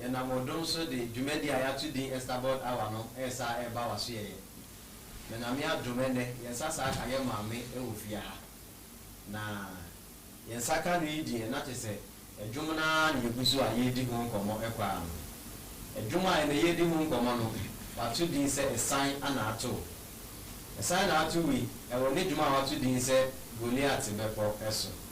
Yɛnam wo dom so de dwumadi a yɛato din Esterbod Hour no resa reba w'asoɛeɛ. Menyame adom ɛnnɛ yɛn nsa saa ka yɛn maame wɔ fie ha. Na yɛn nsa ka no yi deɛ na kyɛ sɛ ɛdwom no ara na yɛgu so a yɛredi ho nkɔmmɔ kɔ ara no. Ɛdwom a ɛnnɛ yɛredi ho nkɔmmɔ no wɔato din sɛ Ɛsan na Ato Wo. Ɛsan na ato wo yi, ɛwɔ ne dwom a wɔato din sɛ Goliat Bɛpɔ so.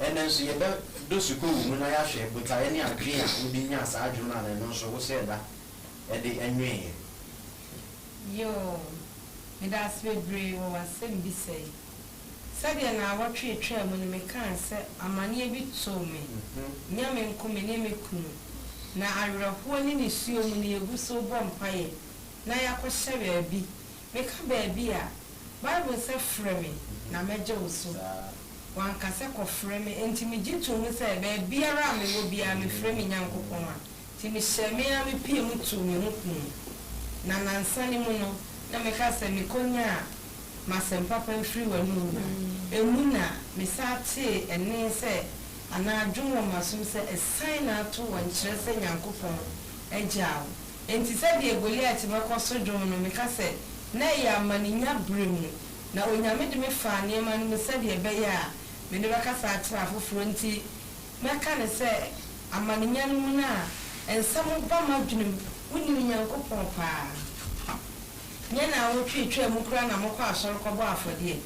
Ɛnnɛ nso, yɛbɛdɔ sukuuwu mu na yɛahwɛ botaeɛ ne adwene a wode nyaa saa adwene no a na ɛno nso wo sɛɛ da ɛde nweeɛ. Yoo, meda ase bebree wɔ w'asɛmbisa yi. Sɛdeɛ naawɔtwe retwaa mu no mekaa sɛ amaneɛ bi too me, nyɛ me nko me ne me kunu, na awerɛhoɔ ne nisuo mu no yɛgu so rebɔ mpaeɛ na yɛakɔhyɛ baabi. Meka baabi a, Bible sɛ frɛ me na mɛgye wo so. Wanka sɛ kɔfrɛ me. Enti migye too mu sɛ baabiara a mewɔ biara mefrɛ me Nyankopɔn a. Enti mehyɛɛ me ara me pia mu too me ho kum. Na nnansa no mu no, na meka sɛ mekonyaa m'asɛm papa afiri w'anom no a, emu na mesan tee ɛnne sɛ anaa dwom wɔ m'asom sɛ, Asiane ato wo nkyerɛ sɛ Nyankopɔn agyaa wo. Enti sɛdeɛ Goliat bɛkɔ so dwom no, meka sɛ, Na ɛyɛ amaninya berɛ mu, na Onyame de me faa nneɛma no mu sɛdeɛ ɛbɛyɛ a mede bɛkasa akyerɛ afoforɔ nti, mɛka no sɛ amaninya no mu no a nsɛm ba m'adwenem, Wonim Nyankopɔn paa? Nyɛ nnawɔtwe ɛtwaa mu koraa na mokɔ asɔre kɔbɔ afɔdeɛ?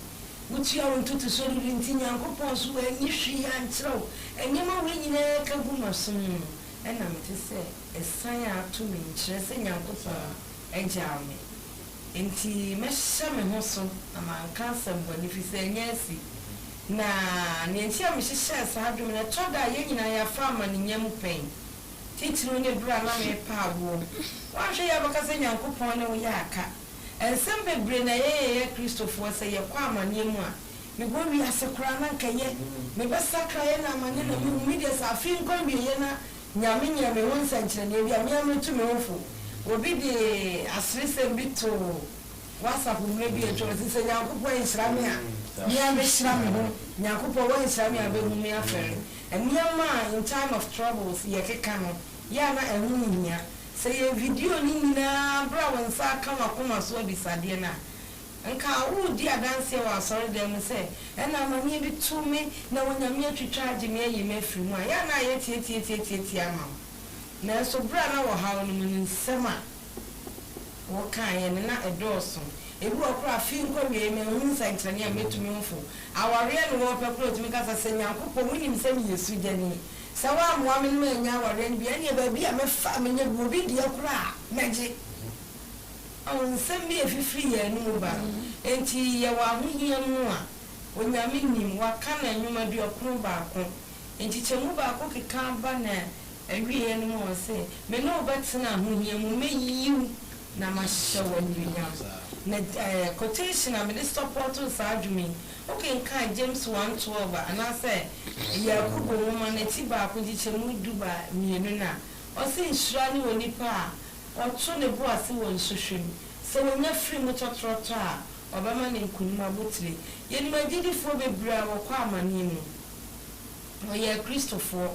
Wotua wo ntotosoɔ dodo nti Nyankopɔn so anyi hwee ankyerɛ wo? Nneɛma wei nyinaa ka gu m'asom mu no, Ɛna mete sɛ asian a ato me nkyerɛ sɛ Nyankopɔn agyaw me. Enti mɛhyɛ me ho so na manka asɛm bɔne firi sɛ ɛnyɛ asi. Na nea enti a mehyehyɛɛ saa adwene no, ɛtɔ da a yɛn nyinaa yɛafa amanenya mu pɛn. Titiriw ne bere a na merepa awoɔ. Woanhwɛ yie a wobɛka sɛ Nyankopɔn ne wo yɛ aka. Nsɛm bebree na yɛyɛ yɛ Kristofoɔ sɛ yɛkɔ amanneɛ mu a. Mebɔ wiase koraa na nka ɛyɛ me bɛ sakraeɛ na amane na mehu me deɛ sɛ afei nkɔ awieɛ na Nyame nyɛ me ho nsɛnkyerɛnneɛ bi a me ara mɛtu me ho fo Obi de aseresɛm bi too WhatsApp mmerɛ bi a atwam ɔse sɛ Nyankopɔn anhyira me a me ara mɛhyira me ho Nyankopɔn wanhyira me a bɛhu me afɛre Nneɛma a in time of troubles yɛkeka no yɛ a na ɛho nhia Sɛ yɛn video no nyinaa berɛ a wo nsa aka w'akoma so abisadeɛ no a Nka woredi adanseɛ wɔ asɔredan mu sɛ, Ɛna amaneɛ bi to me na Onyame atwitwa agye me ayi me afiri mu a, yɛ a na ayɛ tiatiatiatiatia ama wo. Nanso berɛ a na wɔ haw no mu no, nsɛm a wokaeɛ no, na ɛdɔɔso. Ebi wɔ hɔ koraa a, afe nkɔ awieeɛ manhunu nsɛnkyerɛnne a mɛtumi mfo. Awareɛ no wɔrepɛ koraa ɔtumi ka sɛ, Sɛ Nyankopɔn, wonim sɛ meyɛ sugyani. Sɛ woammoa me no mannya awareɛ no bi a, ɛnneɛ baabi a mɛfa a mɛnya bi, obi deɛ koraa a, mɛgye. Ao, nsɛm bi refifiri yɛn anomu ba, enti yɛwɔ ahohia mu a, Onyame nnim, Waka no nnwom aduɔkron baako, nkyekyɛmu baako keka ba na awieɛ no mu Ɔse, Me ne wo bɛtena ahohia mu, mɛyi wo na mahyehyɛ wo anuonyam. Na eh, quotation a mede sɔpɔɔto saa dwom yi, wokenkan James one twelve a, anaasɛ Yakubu nwoma no atibaako nkyekyɛmu du ba mmienu no a, Ɔse, Nhyira ne onipa a Ɔto ne bo ase wɔ nsohwɛ mu. Sɛ onya firi mu tɔtrɔtɔ a, ɔbɛma no nkonim abotire. Yɛnim agyidifoɔ bebree a wɔkɔ amanneɛ mu. Wɔyɛɛ Kristofoɔ.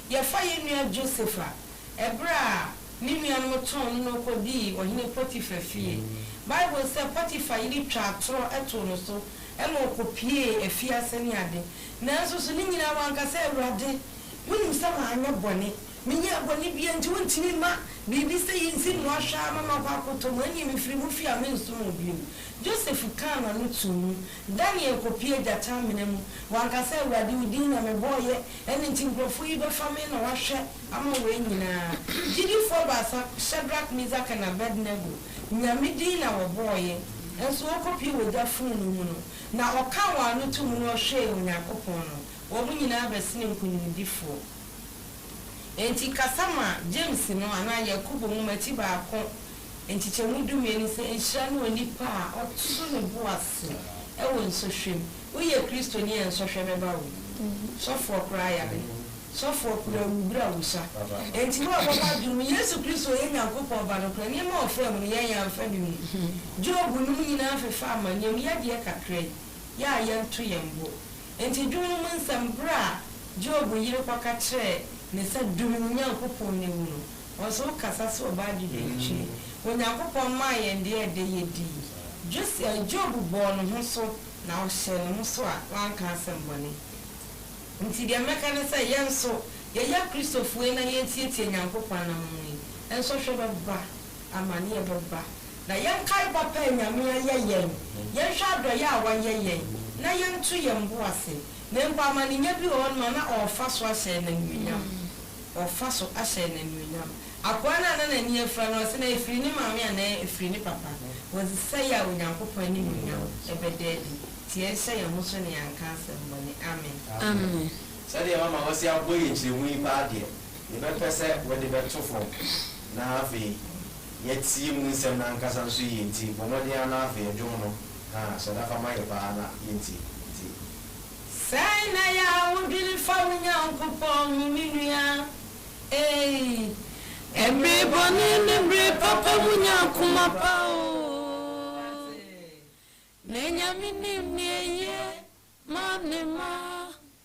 Yɛfa yɛn nua Joseph a, ɛberɛ a ne nuanom tɔn no na ɔkɔdii Ɔhene Potifar fie. Bible sɛ, Potifar yere twaa atorɔ too no so ma ɔkɔpuee afiase ne ade. Nanso so ne nyinaa wanka sɛ, Awurade, wonim sɛ manyɛ bɔne, Menyɛɛ bɔne biaa nti wontumi mma biribi sɛi nsi mmoa hwɛ ara ma makɔ akɔtɔ mu, ɛnneɛ mefiri mo fie a mensom mo bio. Joseph kaa n'ano too mu. Daniel kɔpuee gyata amena mu. Wanka sɛ, Awurade, wo din na mebɔeɛ, ɛno nti nkurɔfoɔ yi bɛfa me na wɔahwɛ ama wɔn nyinaa. Gyidifoɔ baasa, Shadrach, Mesach, ne Abednego, Nyame din na wɔbɔeɛ, nso wɔkɔpuee ogya fononoo mu no, na ɔkaa wɔn ano too mu na ɔhwɛɛ Onyankopɔn no, wɔn nyinaa bɛsenee nkonimdifoɔ. Enti kasa ma James no anaa Yakobo nwoma ti baako nkyekyɛmu dumien no sɛ nhyira ne onipa a ɔto ne bo ase wɔ nsɔhwɛ mu. Woyɛ Kristoni a nsɔhwɛ bɛba wo. Sɔfoɔ koraa yare. Sɔfoɔ koraa awu berɛ a wosua. Enti wo a wobɔ w'adwene mu Yesu Kristo yɛ Nyankopɔn Ba no koraa, nneɛma a ɔfaa mu no yɛn yɛamfa bi mu. Job nom nyinaa fefaa amanneɛm, yɛn deɛ kakra yi, yɛ a yɛnto yɛn bo. Enti dwom no mu nsɛm bere a Job yere kɔka kyerɛɛ ne sɛ dum Nyankopɔn na ewu no, ɔnso wo kasa sɛ ɔbaa dwudwantwi. Onyankopɔn maa yɛn deɛ ɛdɛ yɛdii. Jos, eh, Job bɔɔ ne ho so na ɔhyɛɛ ne ho so a wanka asɛm bɔne. Enti deɛ mɛka ne sɛ yɛn nso yɛyɛ Kristofo yi na yɛtiatia Nyankopɔn anammɔn yi, ɛnso hwɛ bɛba. amaneɛ bɛba. Na yɛnkae papa a Nyame ayɛ yɛn, yɛnhwɛ adɔeɛ a wayɛ yɛn, na yɛnto yɛn bo ase. Na mpo amanenya bi wɔ hɔ nom a na ɔrefa so ahyɛ no anuonyam. Ɔrefa so ahyɛ no anuonyam. Akoa no a na n'ani afira no, ɔse na ɛfiri ne maame anaa ɛfiri ne papa? Wɔse sɛi a Onyankopɔn animuonyam bɛda adi. Nti yɛnhyɛ yɛn ho so na yɛanka asɛm bɔne. Amen. Amen. Sɛdeɛ mama wɔse abɔ yɛn nkyerɛmu yi paa deɛ, Yɛbɛpɛ sɛ wode bɛto fam na afei yɛatie mu nsɛm no ankasa nso yie nti bɔ mmɔden ara na afei dwom no haa sɔda fa ma yɛ paa na yɛntie nti. Sɛn na ɛyɛ a wodwene fa wo Nyankopɔn ho me nua ei. Mmere bɔne ne mmere papa mu nya koma pa oo. Na Nyame nim nea eye ma ne mma.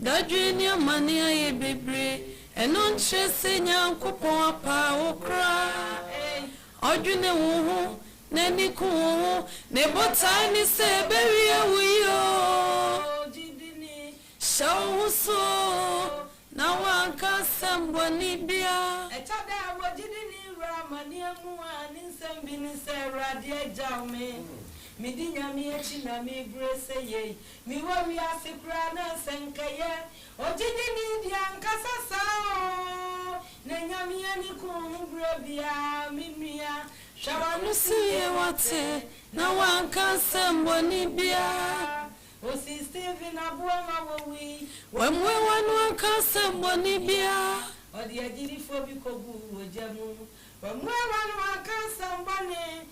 Dadwen ne amane ayɛ bebree. Ɛno nkyerɛ sɛ Nyankopɔn apaa wo koraa. Ɔdwene wo ho. N'ani ku wo ho. Ne botae ne sɛ ɛbɛwie wo yie oo. Hyɛ wo ho so oo, na woanka asɛm bɔne biara. Ɛtɔ da a, wɔ gyidini wura amaneɛ mu a, ne nsɛm bi ne sɛ, Awurade agyaw me. Medi Nyame akyi na mebrɛ sɛ yei. Mewɔ wiase koraa na sɛ nka yɛ ogyidini deɛ ankasa saa oo na nyame ani ku wo ho berɛ biaa me nua hwɛ w'ano sie wate na wanka asɛm bɔne biaa osi Stephen aboa ma wɔwui wammue w'ano anka asɛm bɔne biaa ɔde agyidifoɔ bi kɔguu ogya mu wammue w'ano anka asɛm bɔne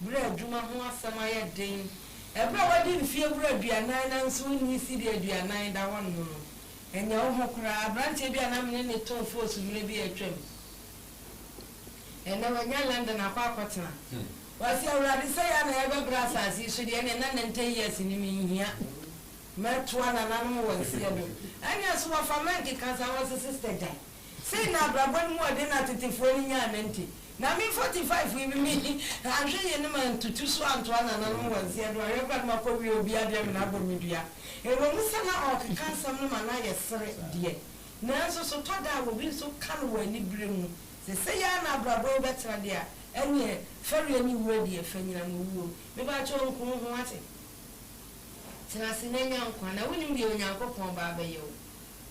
Bere a adwuma ho asɛm ayɛ den, bere a woadi mfe awura aduanan nanso wunni cedi aduanan da hɔnom no, ɛnyɛ wo ho koraa. Aberante bi a na me ne no tõ foosu mmere bi a atwam. Ɛnnɛ wanya London akɔ akɔtena. Ɔse, Awurade, sɛ yɛn na yɛbɛbra asase yi so deɛ, ɛnneɛ na ninety years no menhia. Mɛtoa nananom wɔn seɛ do. Ɛnneɛ so wɔfa mɛnke ka saa? Ɔse, Sister, gyae. Sei na abrabɔ no mu ɔden atetefoɔ no nyaa no nti, na me 45 yi me anhwe yɛ no mantutu so antoa nananom wɔn nseɛ do anhwɛ koraa no makɔwie obi adeɛ me na abɔ me dua. Ɛwɔ mu sɛ na ɔɔkeka nsɛm no ma na yɛ sere deɛ, nanso so tɔ da a obi nso ka no wɔ anibere mu sɛ sei ara na abrabɔ yi bɛtra deɛ a, ɛneɛ fɛreɛ ne wuo adi ɛfɛ nyina mo wuo. Mebaakyɛ o nko wo ho ase. Tena ase na nya nkwa, na wonim deɛ Onyankopɔn Ba bɛyɛ o.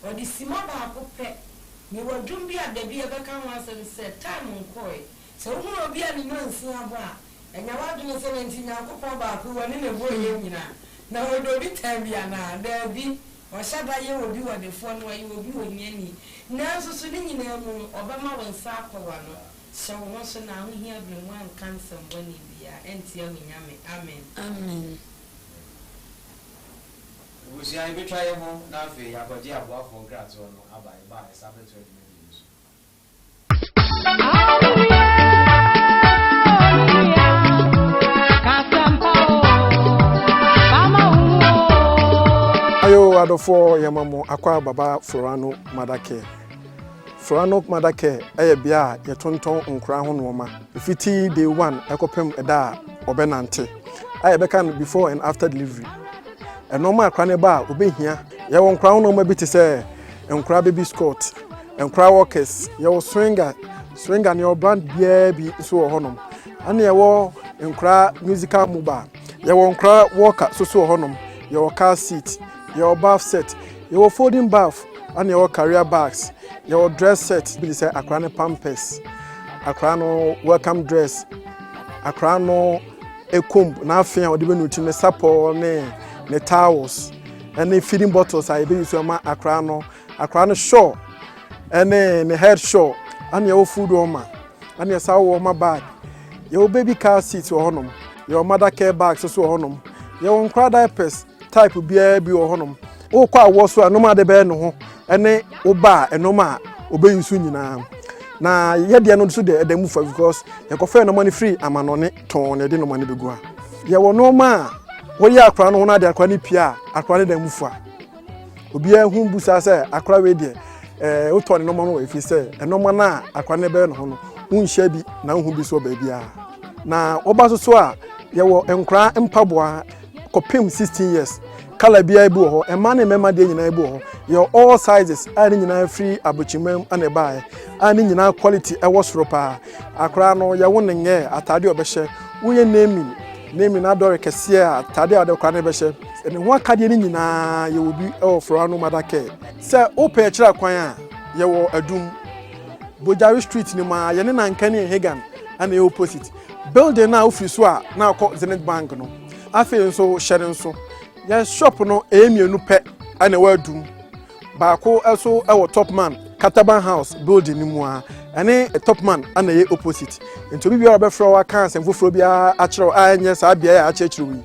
Ɔde simma baako pɛ. Mewɔ dwom bi a dabi yɛbɛka ho asɛm sɛ Time Nkɔe. Sɛ wohunu obi a ne nnansin abɔ a, nya w'adwene sɛ nanti Nyankopɔn baako wɔne na ɛbɔɔ yɛn nyina. Na ɔdɔ obi time bi anaa? Daabi. Ɔhyɛ da yɛ obi ɔdefoɔ na ɔyɛ obi ohiani. Nanso so ne nyinaa mu no ɔbɛma wo nsa akɔ w'ano. Hyɛ wo ho so na ahohia berɛ mu anka nsɛm bɔne biara antia wo Nyame. Amen. Amen. Ebusua, yebetwa yɛn ho na afei yɛakɔgye aboafoɔ nkratoɔ no aba yɛn ba a yɛsan bɛtoa dwumadie no so. Ayo adɔfoɔ yɛma mo akwa baba Florano Mother Care. Florano Mother Care yɛ bea a yɛtontɔn nkoraa ho nnoɔma. Ɛfiti day one ɛkɔpem ɛda a ɔbɛnante. A yɛbɛka no before and after delivery. Nnoɔma a akora no ba a obɛhia. Yɛwɔ nkora nnoɔma bi te sɛ nkora baby scot, nkora walkers, yɛwɔ swinger, swinger no yɛwɔ brand biara bi nso wɔ hɔnom. Ɛna yɛwɔ nkora musical mobile, yɛwɔ nkora walker soso wɔ hɔnom, yɛwɔ car seat, yɛwɔ bath set, yɛwɔ folding bath, ɛna yɛwɔ career bags, yɛwɔ dress set bi te sɛ akora no pampers, akora no welcome dress, akora no comb, n'afe a wɔde bɛnu ti ne sapɔw ne ne towels ne feeding bottles a yɛbɛyi so ma akwaraa no akwaraa no shawl ne ne head shawl ɛne ɛwɔ food wɔn ma ɛne ɛsa wɔ wɔn ma bag yɛwɔ baby car seat wɔ hɔnom yɛwɔ mother care bag so so wɔ hɔnom yɛwɔ nkwaraa diapers Type biara bi wɔ hɔnom. Wokɔ awɔ so a nom ade bɛyɛ ne ho ne wo ba a ɛnom a ɔbɛyi nso nyinaa. Na yɛdeɛ no nso deɛ ɛda mu fa because yɛkɔfɛɛ nnoɔma no firi amanɔne tɔn na yɛde nnoɔma no bɛgu ha. Yɛwɔ nnoɔma a woyɛ akwadaa no ho na ade akwadaa no pie a akwadaa no da mu fa. Obiara hu bu saa sɛ akwadaa wei deɛ ɛɛ eh, wotɔ ne nnoɔma no wɔ ɛfiri sɛ nnoɔma no a akwadaa no bɛyɛ ne ho no wonhyɛ bi na wohu bi so wɔ baabiara. Na woba so so a yɛwɔ nkwadaa mpaboa. kɔpem sixteen years kala biara bi wɔ hɔ mmaa ne mmarima deɛ nyinaa bi wɔ hɔ yɛ all sizes a ne nyinaa firi abokyimam na ɛbaeɛ a ne nyinaa quality ɛwɔ soro paa akora no yɛwo ne nyɛ ataade ɔbɛhyɛ woyɛ naming naming adɔre kɛseɛ a ataade a ɔde kora no bɛhyɛ ne ho akadeɛ no nyinaa yɛwɔ bi ɛwɔ foroa no mada kɛ sɛ wopɛ akyira kwan a yɛwɔ adum bogyare street ne mu a yɛne nanka ne hegan ɛna ɛyɛ opposite Building no a wofi so a na akɔ Zenith Bank no, afei nso hyɛ no nso, yɛn shop no ɛyɛ mmienu pɛ na ɛwɔ adum. Baako nso wɔ Topman Kataban House building no mu a ɛne Topman na ɛyɛ opposite. Nti obi biara ɔbɛfrɛ wo aka asɛm foforɔ biara akyerɛ wo a ɛnyɛ saa beaeɛ a akyerɛkyerɛ wo yi,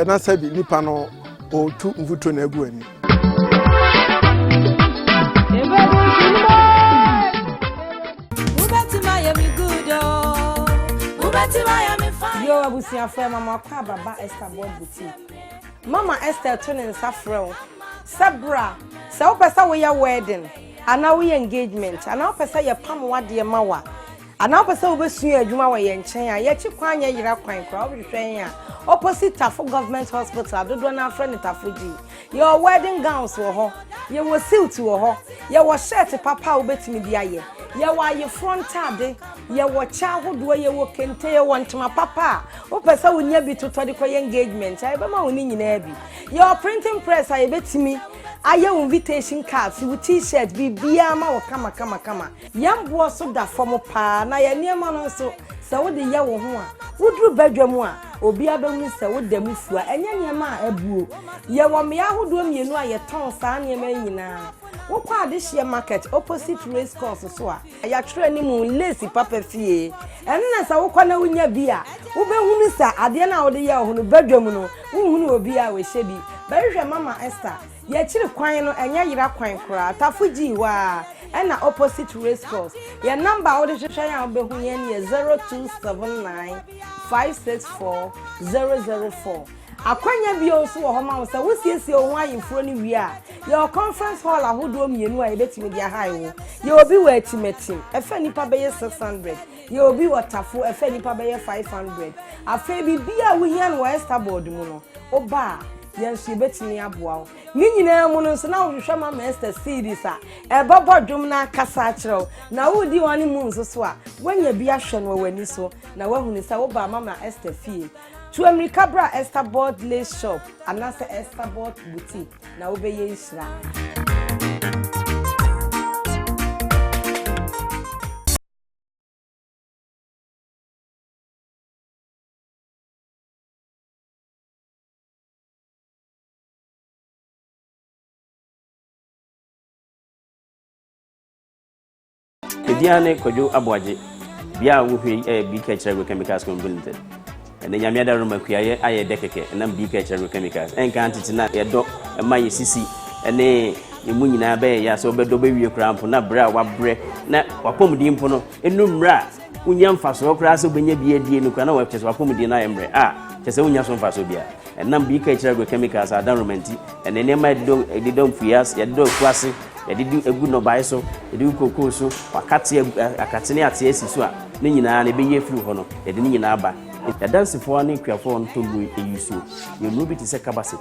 na sɛ bi nipa no ɔretu mfuturo na agu w'ani. Yo abusuafo ɛma mo akɔ ababa Esther Board Boutique. Mama Esther to ne nsa frɛ wo sɛ bra sɛ wopɛ sɛ woyɛ wedding anaa woyɛ engagement anaa wopɛ sɛ yɛpam w'adeɛ ma wo a Anaa wopɛ sɛ wobɛsua adwuma wɔ yɛn nkyɛn a, yɛkye kwan nyɛ yera kwan koraa. Wobɛhwehwɛ yɛn a, opposite Tafo Government Hospital a dodoɔ no ara frɛ no Tafo G. Yɛwɔ wedding gowns wɔ hɔ, yɛwɔ suit wɔ hɔ, yɛwɔ shirt papa a wobɛtumi de ayɛ, yɛwɔ ayeforɔ ntade, yɛwɔ kyɛ ahodoɔ, yɛwɔ kente, yɛwɔ ntoma papa a wopɛ sɛ wonya bi totɔ de kɔyɛ engagement a, yɛbɛma wo ne nyinaa bi. Yɛwɔ printing press a yɛbɛtumi ayɛ wo invitation cards, wo T-shirt, biribiara ma wo kamakamakama. Yɛn boɔ so da fam paa na yɛn nneɛma no nso, sɛ wode yɛ wo ho a, woduru badwam a, obiara bɛhunu sɛ woda mu fua. Ɛnyɛ nneɛma a abuo. Yɛwɔ mmea ahodoɔ mmienu a yɛtɔn saa nneɛma yi nyinaa. Wokɔ Adehyeɛ Market opposite Race Course so a, yɛatwerɛ anim Lace Papa Fie ɛno na sɛ wokɔ na wonya bi a, wobɛhunu sɛ adeɛ no a wode yɛ wo ho no, badwam no, wonhunu obiara a ɔhyɛ bi. Bɛhwehwɛ Mama Esther Y'akyiri kwan no ɛnyɛ yera kwan koraa tafo gyii hɔ aa ɛna opposite racecourse yɛ number a wode hwehwɛ yɛn a wobɛhu yɛn yɛ 0279 564 004 akwanya bio nso wɔ hɔ ma wo sɛ wo siesie wo ho ayeforo no wie a yɛwɔ conference hall ahodoɔ mmienu a yɛbɛtumi de ahae wo yɛwɔ bi wɔ atimatim ɛfa nnipa bɛyɛ 600 yɛwɔ bi wɔ tafo ɛfa nnipa bɛyɛ 500 afei biribiara a wohia no wɔ Estaboard mu no woba a Yɛn nso yɛbɛtumi aboa wo. Ne nyinaa mu no nso na wohwehwɛ Mama Esther CDs a ɛbɛbɔ dwom no ankasa akyerɛ wo. Na woredi wɔn anim nso so a, woanya bi ahwɛ no wɔ w'ani so na woahunu sɛ wobaa Mama Esther fie. Tu ammirika bra Esther Bolt Lace Shop anaasɛ Esther Bolt Boutique na wobɛyɛ nhyira. Ɛdin ne Kwadwo Aboagye. Bia a wohwɛ yi yɛ BK Kyerɛ Agrochemicals Company Limited. Ɛnna nyame ada roma kuayɛ ayɛ dɛ kɛkɛ ɛnam BK Kyerɛ Agrochemicals. Ɛnka tete na yɛdɔ ɛma yɛ sisi ɛne emu nyinaa bɛyɛ yɛ sɛ wɔbɛdɔ bɛwie koraa mpo na berɛ a wabrɛ na wapɔmuden mpo no ɛnu mmerɛ a wonya mfasoɔ koraa sɛ wobɛnya bi adie no koraa na wɔkyɛ sɛ wapɔmuden no ayɛ mmerɛ a kyɛ sɛ wonya so mfasoɔ bia ɛnam bi ka akyiri agrochemicals a adanroma nti ɛne nneɛma yɛde dɔ mfuiɛ ase yɛde dɔ afuo ase yɛde di egu nnɔbae so yɛde gu kokoo so wakate akate ne ate asi so a ne nyinaa na ɛbɛyi afiri hɔ no yɛde ne nyinaa ba yɛdansefoɔ ne akuafoɔ no tɔmmuro ɛyi suo yɛ nnuro bi te sɛ kabaset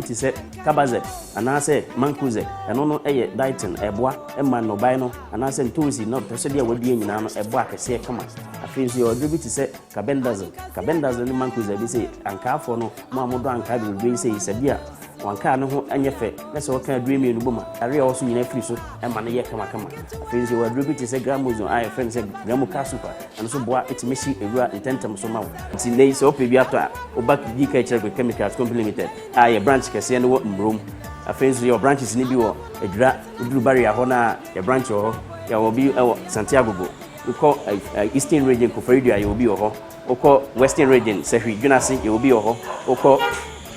bi te sɛ Cabazec anaasɛ Mancozeb, ɛno no yɛ diatin a ɛboa ma nnɔbae no anaasɛ ntoosi na ɔpɛsɛdeɛ a wɔadua nyinaa no ɛbɔ akɛseɛ kama. Afei nso yɛwɔ aduro bi te sɛ Carbendazole. Carbendazole ne Mancozeb bi sei, ankaafoɔ no, mo a modɔ ankaa bebrebe yi sei, sɛ bi a wankaa no ho nyɛ fɛ na sɛ wɔka aduro mmienu bɔ ma yareɛ a ɔwɔ so nyinaa firi so ɛma no yɛ kamakama. Afei nso yɛwɔ aduro bi te sɛ Gramozone a yɛfrɛ no sɛ Gramoca Super. Ɛno nso boa tumi hye wura ntɛmntɛm so ma wo. Nti nnɛ yi sɛ wopɛ bi atɔ a, wo ba di kan kyerɛ Grit Chemicals Company Limited a yɛn branch kɛseɛ no wɔ Mmrom. Afei nso yɛwɔ branches no bi wɔ Adwira, woduru Barrier hɔ no a, yɛn branch wɔ hɔ. Yɛwɔ bi wɔ Santiago Bo. Wokɔ Eastern Region Koforidua a, yɛwɔ bi wɔ hɔ. Wokɔ Western Region Sahwi, Dwenase, yɛwɔ bi wɔ hɔ. Wokɔ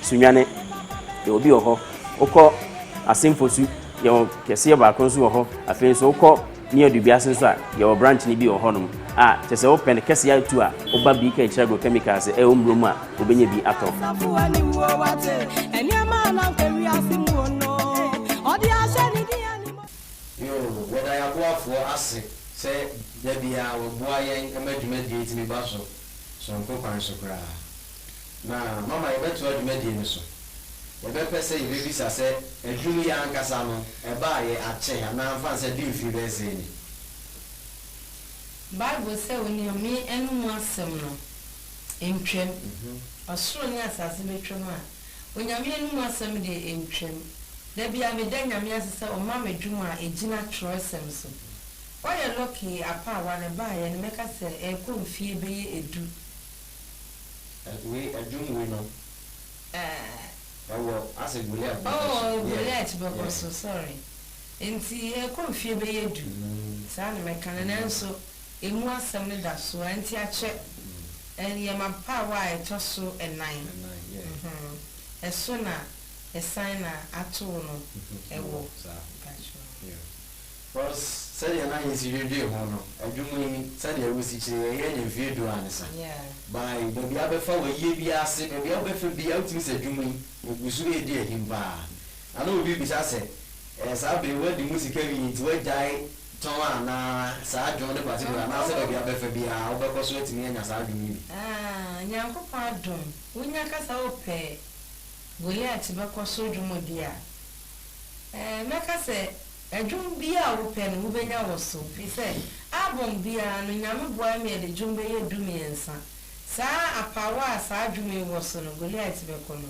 Sunyani, yɛwɔ bi wɔ hɔ. Wokɔ Assin Fosu, yɛwɔ kɛseɛ baako nso wɔ hɔ. Afei nso wokɔ. Ne yɛdu biase nso a, yɛwɔ branch no bi wɔ hɔnom a, kyerɛ sɛ wopɛ no kɛse ara tu a, woba BK kyerɛ Agrochemicals sɛ ɛwɔ mmuro mu a, wobɛnya bi atɔ. Yoo, yɛda yɛn aboafoɔ ase sɛ da biara wɔboa yɛn ma dwumadie tumi ba so sononko kwan so koraa. Na mama yɛbɛtoa dwumadie no so. Yɛbɛpɛ sɛ yɛbɛbisa sɛ aduru yi ankasa no ɛbaa yɛ akyɛ anaa mfa nsɛ de mfiri bɛyɛ sɛn ni? Bible sɛ oniame no mu asɛm no ntwam. Ɔsoro ne asase bɛtwam a onyame no mu asɛm deɛ ɛntwam. Da biara meda Nyame ase sɛ ɔma me dwom a ɛgyina twerɛsɛm so. Woayɛ lucky apaawa na ɛbaeɛ no mɛka sɛ ɛrekɔ mfie bɛyɛ ɛdu. Wei ɛdwom wei no ɛwɔ ase Goliath bɛkɔ so. Oh Goliath bɛkɔ so sorry nti ɛkɔ mfie bɛyɛ du saa na mɛka no nanso ɛmu asɛm no da so ara nti akyɛ yɛ m'abaawa a ɛtɔ so ɛnan ɛso na ɛsan na atoo no ɛwɔ. Cos sɛdeɛ na yɛsi dwedwee ho no adwuma yi sɛdeɛ wosi kyerɛ yi ɛyɛ ne mfeɛ du ansa by baabi a wobɛfa wayie biara ase baabi a wobɛfa biara wotumi sɛ adwuma yi ɛguso ɛɛdi ahim paa na na obi bisa sɛ ɛɛ saa bere yi wadi mu sika wie nti wagyae tɔn anaa saa dwom no particular anaasɛ baabi a wobɛfa biara wobɛkɔ so atumi anya saa dwom yi bi. Aah Nyankopɔn adom wonya ka sɛ wopɛ Goliath bɛkɔ soro dwumadi a ɛɛ mɛka sɛ Dwom biara a wopɛ no, wubenya wɔ so. Efisɛ albɔm biara no, Nyame boae ma yɛde dwom bɛyɛ dumiɛnsa. Saa apaawa a saa dwom yi wɔ so no, Goliat bɛkɔ no,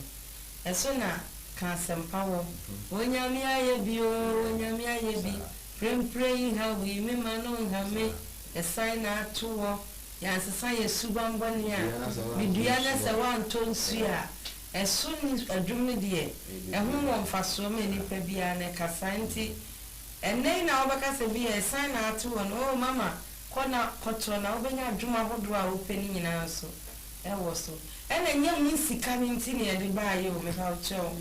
ɛso na Ka Asɛmpa wɔ. Onyame ayɛ bi o, Onyame ayɛ bi, Prempren yi ha wui, me mma no nha me, Ɛsan na ato wɔ, Yɛansesa yɛn subammɔne a, Medua na sɛ woantɔ nsu a, Ɛso ne adwum no deɛ, ɛho wɔ mfasoɔ ma nnipa biara, na ɛkasa. Nti, ɛnnɛ yi na wobɛka sɛ bi a asiane na ato wo no, oh mama, kɔ na kɔtɔ na wobɛnya adwuma ahodoɔ a wopɛ no nyinaa nso wɔ so. Ɛna ɛnyɛ mu nsika no nti na yɛde baeɛ o, mepawokyɛw.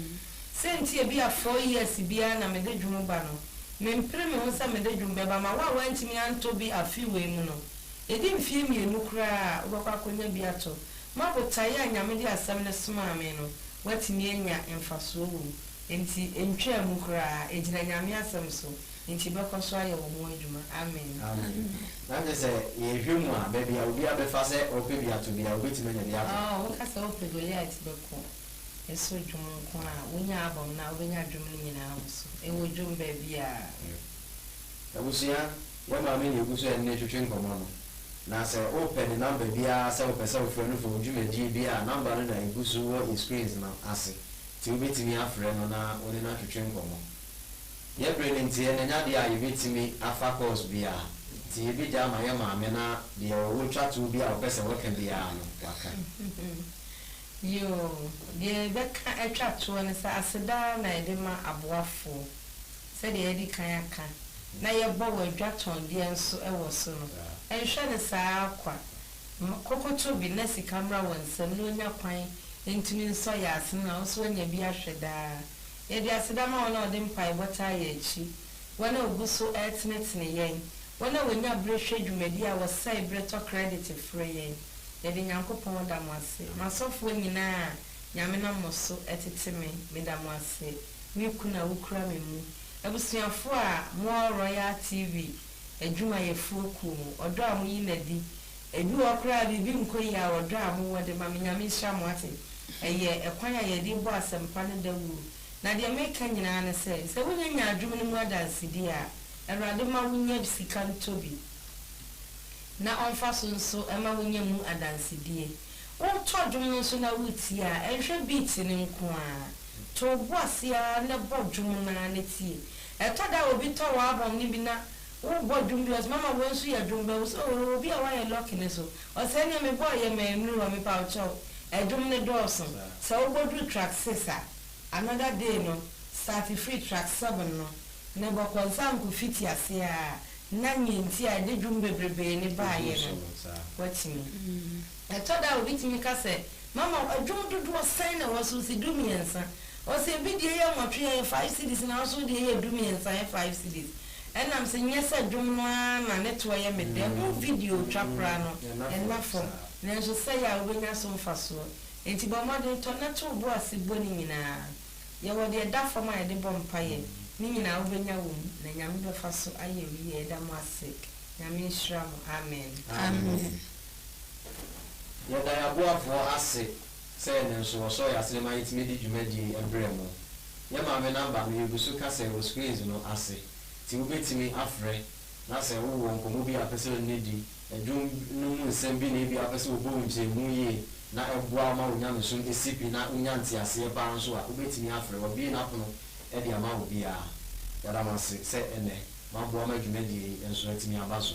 Sɛ nti a bi a four years biara na mede dwom ba no, mempere me ho sɛ mede dwom bɛba ma wo a woantumi antɔ bi afe wei mu no, ɛdi mfeɛ mmienu koraa a wobɛkɔ akɔnya bi atɔ. ma botae a Nyame de Asɛm no somaa me no, wɔatumi anya mfasoɔ wɔ mu. Enti ɛntwaa mu koraa, ɛgyina Nyame Asɛm so, enti bɛkɔ so ayɛ wɔn adwuma. Amen. Amen. Na kyerɛ sɛ yɛhwɛ mu a, baabi a obiara bɛfa sɛ ɔpɛ bi ato biara, obetumi anya bi ato. Oh, woka sɛ wopɛ Goliath bɛko so dwom nko a, wonya album no a, wobɛnya dwom no nyinaa wɔ so. Ɛwɔ dwom baabiara. Abusua. Yɛn maame na egu so ne no twetwe nkɔmmɔ no, na sɛ wopɛ ne namba biara sɛ wopɛ sɛ wofrɛ no fa wo dwumadie bi a, namba no na egu so wɔ yɛn screens no ase, nti wobɛtumi afrɛ no na wo ne no atwetwe nkɔmmɔ. Yɛn bere no nti, ɛna ɛnyɛ adeɛ a yɛbɛtumi afa course biara, nti yɛbɛgya ama yɛn maame na deɛ ɔwɔ twatoɔ bi a ɔpɛ sɛ ɔka biara no, waka. Yoo, deɛ yɛbɛka atwa toɔ ne sɛ aseda ara na yɛde ma aboafoɔ. sɛdeɛ yɛadi kan aka, na yɛbɔ wɔ adwatɔndeɛ nso wɔ so no, nhwɛ no saa ara kwa. Ma kokotobi na sika mmra wɔn nsam na wɔnya kwan ntumi nsɔ yɛn asene na wɔn nso wɔanya bi ahwɛ daa. Yɛde aseda ma wɔn a wɔde mpaebɔ taa yɛn akyi, wɔn a wɔgu so retenetene yɛn, wɔn a wɔnya berɛ hwɛ dwumadie a wɔsɛe berɛ tɔ kredit frɛ yɛn. Yɛde Nyankopɔn da mo ase. M'asɔfoɔ nyina a Nyame nam mo so atete me, meda mo ase. Me kunu a wokura me mu. Abusuafo a mowɔ Royal TV adwumayɛfoɔ kuo mu, ɔdɔ a moyi no adi. Ebi wɔ hɔ koraa a biribi nkɔ yie a ɔdɔ a mowɔ de ma me. Nyame nhyira mo ate. Ɛyɛ ɛkwan a yɛde rebɔ asɛmpa no dawuro. Na deɛ mereka nyinaa ne sɛ, sɛ wonya nya adwom no mu adansedie a, Awurade mma wonya sika ntɔ bi na ɔmfa so nso mma wonya mu adansedie. Woretɔ dwom no nso na woretie a, nhwɛ beat no nko ara. To wo bo ase ara na bɔ dwom no ara na tie. Ɛtɔ da a obi tɔ w'album no bi na worebɔ dwom bi, ɔse mama wei nso yɛ dwom bɛn? Wose oh, yɛwɔ obi a wayɛ Lucky no so, ɔse ɛneɛ mebɔɔ yɛ ma ɛnnuru hɔ, mepawkyɛw. Ɛdwom no dɔɔso. Sɛ wobɔduru track six a, another day no, start firi track seven no na bɔ kɔnsanko fiti ase ara na nea nti a ɛde dwom bebrebee no baeɛ no, woatumi. Ɛtɔ da a obi tumi ka sɛ, Mama wo adwom dodoɔ sɛn na ɛwɔ so? Ɔse, Dummiɛnsa. Ɔse, Ebi deɛ yɛ nwɔtwe a ɛyɛ five cedis nanso wo deɛ yɛ dummiɛnsa a ɛyɛ five cedis. Ɛnam sɛ nyɛ sɛ dwom no ara na ne toɔ yɛ me dɛ, ho video twa koraa no ɛna fam nanso sɛe a wobɛnya so mfasoɔ nti bɔ mmɔden tɔ na to wo bo ase bɔ ne nyinaa. Yɛwɔ deɛ ɛda fam a yɛde bɔ mpaeɛ. Ne nyinaa wobɛnya wɔ mu na Nyame bɛfa so ayɛ wo yie. Yɛda mo ase. Nyame nhyira mo. Amen. Amen. Yɛda yɛn aboafoɔ ase sɛ ɛnnɛ nso wɔsɔɔ yɛn asene ma yɛtumi de dwumadie yi brɛɛ mo. Yɛn maame number no yɛgu so ka sɛ ɛwɔ screens no ase nti wobɛtumi afrɛ na sɛ wowɔ nkɔmmɔ bi a wopɛ sɛ yɛne no di, dwom no mu nsɛm bi na ebia wopɛ sɛ wɔbɔ wo nkyerɛmu yie na ɛboa wo ma wo nyamesom si pi na wonya nteaseɛ pa ara nso a, wobɛtumi afrɛ. Wɔabue n'apono de ama obiara. Yɛda mo ase sɛ ɛnnɛ moaboa ma dwumadie yi nso atumi aba so.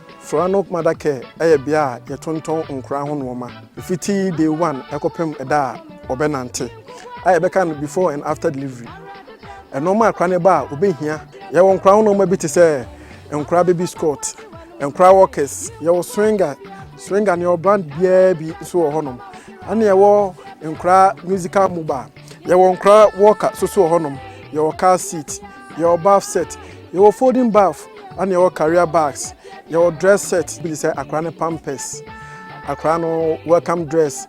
Soranok Mother Care yɛ bea a yɛtontɔn nkwadaa ho nnoɔma, fiti day one kɔpem da a wɔbɛnante, a yɛbɛka no before and after delivery. Nnoɔma a akwadaa no ba a wɔbɛhia, yɛwɔ nkwadaa ho nnoɔma bi te sɛ, nkwadaa baby squat, nkwadaa walkers, yɛwɔ swinger, swinger no yɛwɔ brand biara bi nso wɔ hɔnom, ɛna yɛwɔ nkwadaa musical mobile, yɛwɔ nkwadaa walker nso wɔ hɔnom, yɛwɔ car seat. Yɛwɔ bath set, yɛwɔ folding bath ɛna yɛwɔ carrier bags, yɛwɔ dress set bi te sɛ akwadaa no pampers, akwadaa no welcome dress,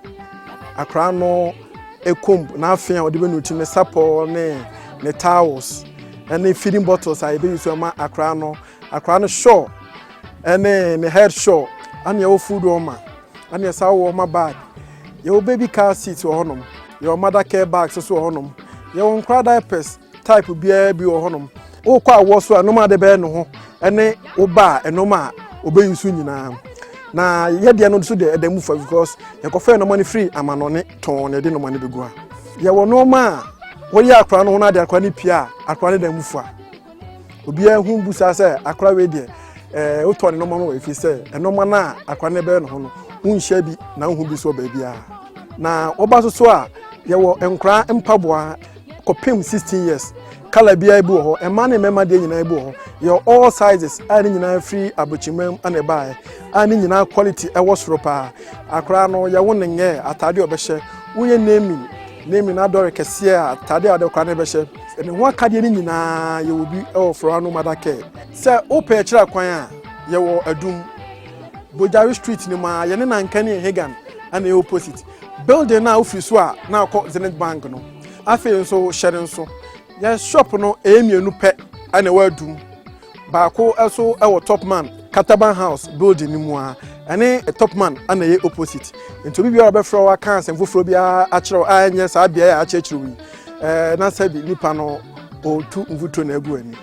akwadaa no ekom n'afe a ɔde bɛ nuti ne sapɔ ne ne towels ɛne feeding bottles a yɛbɛyi so ɛma akwadaa no, akwadaa no shawl ɛne ne head shawl ɛna yɛwɔ food warmer ɛna yɛsa wɔ warmer bag, yɛwɔ baby car seat wɔ hɔnom, yɛwɔ mother care bags nso wɔ hɔnom, yɛwɔ nkwadaa diapers. Type biara bi wɔ hɔnom. Wokɔ awoɔ so a nnoɔma a wode bɛyɛ ne ho ne wo ba a nnoɔma a ɔbɛ use nyinaa. Na yɛdeɛ no nso deɛ ɛda mu fa because yɛkɔfɛ nnoɔma no firi amanɔne tɔn na yɛde nnoɔma no bɛgu ha. Yɛwɔ nnoɔma a woyɛ akwadaa no ho na ade akwadaa no pie a akwadaa no da mu fa. Obiara hu bu saa sɛ akwadaa wei deɛ ɛɛ eh, wotɔ ne nnoɔma no wɔ ɛfiri sɛ nnoɔma no a akwadaa no bɛyɛ ne ho no wonhyɛ bi na wohu bi so wɔ baabiara. Na woba so so a yɛwɔ nkwadaa mpaboa. kɔpem sixteen years kala biara bi wɔ hɔ mmaa ne mmarima deɛ nyinaa bi wɔ hɔ yɛ all sizes a ne nyinaa firi abɔkyimam na ɛbaeɛ a ne nyinaa quality ɛwɔ soro paa akora no yɛwo ne nyɛ ataade ɔbɛhyɛ woyɛ naming naming adɔre kɛseɛ a ataade a ɔde kora no bɛhyɛ ne ho akadeɛ no nyinaa yɛwɔ bi ɛwɔ forowa no mada kɛ sɛ wopɛ akyira kwan a yɛwɔ adum bojari street no mu a yɛne nanka ne ɛhegan ɛna ɛyɛ opposite Building no a wofiri so a na akɔ Zenith Bank no, afei nso hyɛ no nso, yɛn shop no ɛyɛ mmienu pɛ na ɛwɔ adum. Baako nso wɔ Topman Kataban House building no mu a ɛne Topman na ɛyɛ opposite. Nti obi biara ɔbɛfrɛ wo aka asɛm foforɔ biara akyerɛ wo a ɛnyɛ saa beaeɛ a akyerɛkyerɛ wo yi, na sɛ bi nipa no ɔretu mfuturo na agu ani.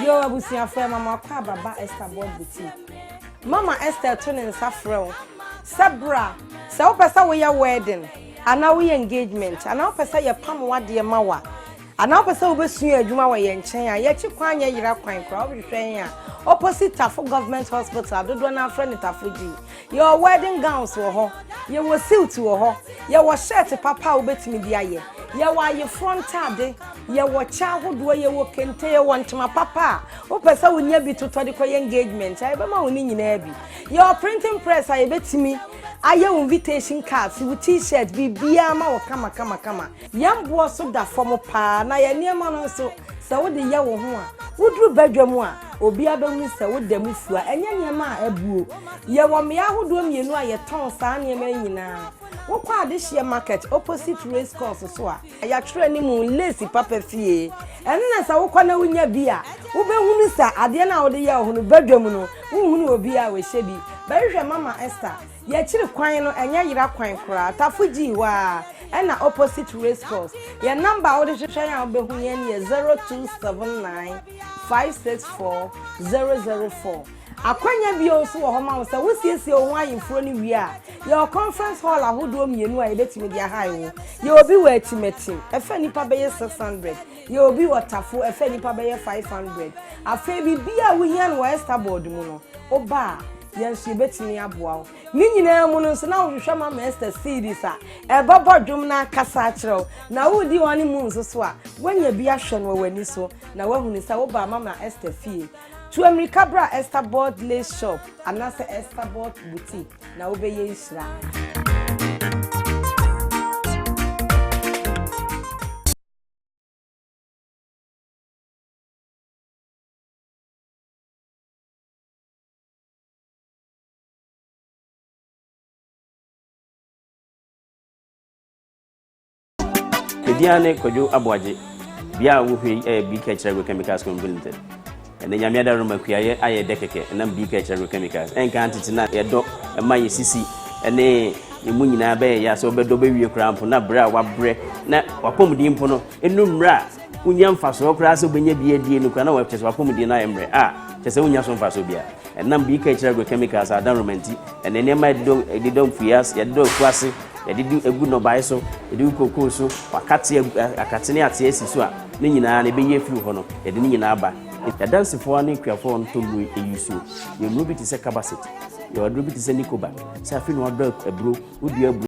Yo abusuafo ɛma mo akɔ ababa Esther Board Boutique. Mama Esther to ne nsa frɛ wo sɛ bra sɛ wopɛ sɛ woyɛ wedding anaa woyɛ engagement anaa wopɛ sɛ yɛpam w'adeɛ ma wo a Anaa wopɛ sɛ wobɛsua adwuma wɔ yɛn nkyɛn a, yɛakyi kwan nyɛ yera kwan koraa. Wobɛhwehwɛ yɛn a, opposite Tafo Government Hospital a dodoɔ no ara frɛ no Tafo G. Yɛwɔ wedding gowns wɔ hɔ, yɛwɔ suit wɔ hɔ, yɛwɔ shirt papa a wobɛtumi de ayɛ, yɛwɔ ayeforɔ ntade, yɛwɔ kyɛ ahodoɔ, yɛwɔ kente, yɛwɔ ntoma papa a wopɛ sɛ wonya bi totɔ de kɔyɛ engagement a, yɛbɛma wo ne nyinaa bi. Yɛwɔ printing press a yɛbɛtumi ayɛ wo invitation cards, wo T-shirt, biribiara ma wo kamakamakama. Yɛn mmoa so da fam paa na yɛn nneɛma no nso, sɛ wode yɛ wo ho a, woduru badwam a, obiara bɛhunu sɛ woda mu fua. Ɛnyɛ nneɛma a abuo. Yɛwɔ mmeae ahodoɔ mmienu a yɛtɔn saa nneɛma yi nyinaa. Wokɔ Adehyeɛ Market opposite Race Course so a, yɛatwerɛ anim Lace Papa Fie ɛno na sɛ wokɔ na wonya bi a, wobɛhunu sɛ adeɛ no a wode yɛ wo ho no, badwam no, wonhunu obiara a ɔhyɛ bi. Bɛhwehwɛ Mama Esther Y'akyiri kwan no ɛnyɛ yera kwan koraa tafo gyii hɔ aa ɛna opposite racecourse yɛ number a wode hwehwɛ yɛn a wobɛhu yɛn yɛ 0279564004 akwanya bio nso wɔ hɔ ma wo sɛ wo siesie wo ho ayeforo no wie a yɛwɔ conference hall ahodoɔ mmienu a yɛbɛtumi de ahae wo yɛwɔ bi wɔ akyimɛkyim ɛfa nnipa bɛyɛ 600 yɛwɔ bi wɔ tafo ɛfa nnipa bɛyɛ 500 afei biribiara a wohia no wɔ Estaboard mu no woba a Yɛn nso yɛbɛtumi aboa wo. Ne nyinaa mu no nso na wohwehwɛ Mama Esther CDs a ɛbɛbɔ dwom no akasa akyerɛ wo. Na woredi honeymoon nso so a, woanya bi ahwɛ no wɔ w'ani so na woahunu sɛ wobaa Mama Esther fie. Tu ammirika bra Esther Bolt Lace Shop anaasɛ Esther Bolt Boutique na wobɛyɛ nhyira. Edia ne Kwadwo Aboagye, bia a wohwɛ yi ɛyɛ BK Kyerɛ Agro Chemicals Company Limited. Ɛnɛ nyame ada roma kuayɛ ayɛ dɛ kɛkɛ ɛnam BK Kyerɛ Agro Chemicals. Ɛnka tete na yɛdɔ ɛma yɛ sisi ɛne ɛmu nyinaa bɛyɛ yɛ sɛ wɔbɛdɔ bɛwie koraa mpo na berɛ a wabrɛ na wapɔmuden mpo no ɛnu mmerɛ a wonnya mfasoɔ koraa sɛ wobɛnya bi adie no koraa na wɔkyɛ sɛ wapɔmudie no ayɛ mmerɛ a kyɛ sɛ wonnya so mfasoɔ biara ɛnam bi ka akyiri agrochemicals a adanroma nti ɛne nneɛma yɛde dɔ mfuie ase yɛde dɔ afu ase yɛde di agu nnɔbae so yɛde gu kokoo so wakate akate ne ate asi so a ne nyinaa na ɛbɛyi afiri hɔ no yɛde ne nyinaa ba yɛdansefoɔ ne akuafoɔ no tɔnnuro ɛyi suo yɛ nnuro bi te sɛ kabasit yɛ ɔduro bi te sɛ nikoba sɛ afei na wadɔ aburo wodua aburo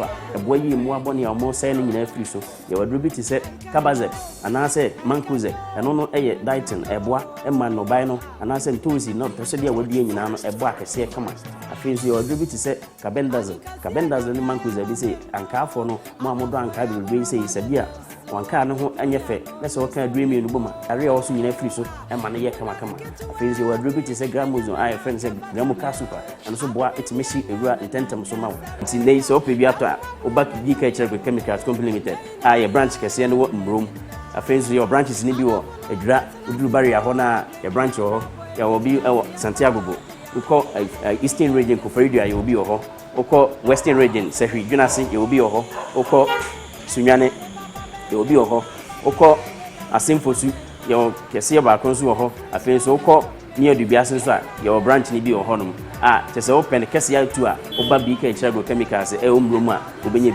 a ɛboa yie mmoa bɔne a wɔsɛe no nyinaa firi so. Yɛwɔ aduro bi te sɛ Cabazep anaasɛ Mancozeb. Ɛno no yɛ dietine. Ɛboa ma nnɔbae no anaasɛ ntoosi na ɔtɔsɛdeɛ a wɔadua nyinaa no ɛbɔ akɛseɛ kama. Afei nso yɛwɔ aduro bi te sɛ Carbendazole. Carbendazole ne Mancozeb bi sɛ ankaafoɔ no, mo a modɔ ankaa bebrebe yi sɛ yi sɛbi a Wɔn nkaa no ho nyɛ fɛ na sɛ wɔka aduro mmienu bom a, yareɛ a ɔwɔ so nyinaa firi so ma no yɛ kamakama. Afei nso yɛwɔ aduro bi te sɛ Gramuzone a yɛfrɛ no sɛ Gramuca Soup a ɛno nso boa tumi hye wura ntɛntɛm so ma wo. Nti nnɛ yi sɛ wopɛ bi atɔ a, wo ba di ka kyerɛ Agri Chemicals Company Limited a yɛ branch kɛseɛ no wɔ Mmrom. Afei nso yɛwɔ branches no bi wɔ Adwira, woduru Barrier hɔ no a yɛ branch wɔ hɔ, yɛwɔ bi wɔ Santiago bo, wokɔ Eastern Region Koforidua yɛwɔ bi wɔ hɔ. Wokɔ Western Region, Sahwi, Dwenase, yɛwɔ bi wɔ hɔ. Wokɔ Sunyane, yɛwɔ bi wɔ hɔ. Wokɔ Assemfosu, yɛwɔ kɛseɛ baako nso wɔ hɔ. Afei nso wokɔ Mia Dubiase nso a, yɛwɔ branch no bi wɔ hɔnom. A, kyerɛ sɛ wopɛ no kɛseɛ ara tu a, woba BK Akyiri Agrochemicals ɛwɔ Mmuro mu a, wobɛnya bi.